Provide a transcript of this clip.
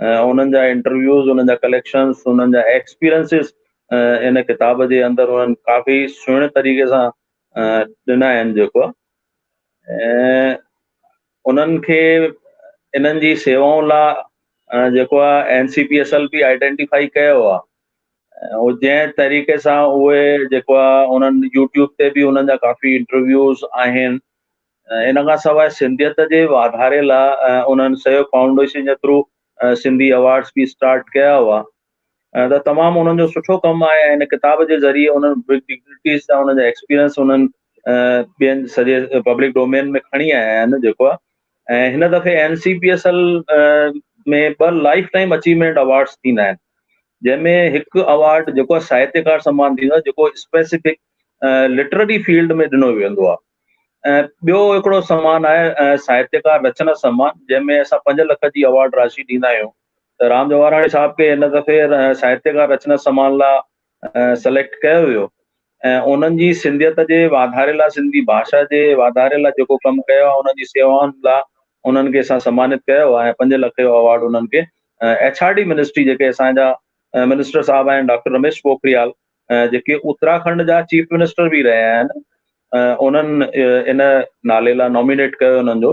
انهن جا انٽرويوز، انهن جا ڪليڪشنز، انهن جا ايڪسپيرينسز ان ڪتاب جي اندر انهن ڪافي سهڻي طريقي سان ڏنا آهن جيڪو ۽ انهن کي انهن جي سيوائن لا جيڪو آهي N C P S L پي آئيڊينٽيفائي ڪيو آهي ۽ جنهن طريقي سان اهي جيڪو آهي انهن يوٽيوب تي به انهن جا ڪافي انٽرويوز آهن ان کان سواء سنڌيت جي واڌاري لاء انهن سيو فائونڊيشن جي ٿرو سنڌي ايوارڊز به اسٽارٽ ڪيا هئا ته تمام انهن جو سٺو ڪم آهي ۽ هن ڪتاب جي ذريعي انهن ڊگنيٽيز سان انهن جا ايڪسپيرينس انهن ٻين سڄي پبلڪ ڊومين ۾ کڻي آيا آهن جيڪو آهي ۽ هن دفعي N C P S L ۾ ٻه لائف ٽائيم اچيومينٽ اوارڊس ٿيندا آهن جنهن ۾ هڪ اوارڊ جيڪو ساهتيڪار سمان ٿيندو آهي جيڪو اسپيسيفڪ لٽرري فيلڊ ۾ ڏنو ويندو آهي ۽ ٻيو هڪڙو سمان آهي ساهتيڪار رچنا سمان جنهن ۾ اسان پنج لک جي ايوارڊ راشي ڏيندا آهيون ته رام جواهراڻي صاحب کي هن دفعي ساهتيڪار رچنا سمان لا سليڪٽ ڪيو ويو ۽ انهن جي سنڌيت جي واڌاري لا سنڌي ڀاشا جي واڌاري لا جيڪو ڪم ڪيو آهي انهن جي سيوائن لا انهن کي اسان سمانت ڪيو آهي ۽ پنج لک جو ايوارڊ انهن کي ايڇ آر ڊي منسٽري جيڪي اسان جا منسٽر صاحب آهن ڊاڪٽر رميش پوکريال جيڪي اتراکنڊ جا چيف منسٽر به رهيا آهن انهن ان نالي لاء نامينيٽ ڪيو انهن جو.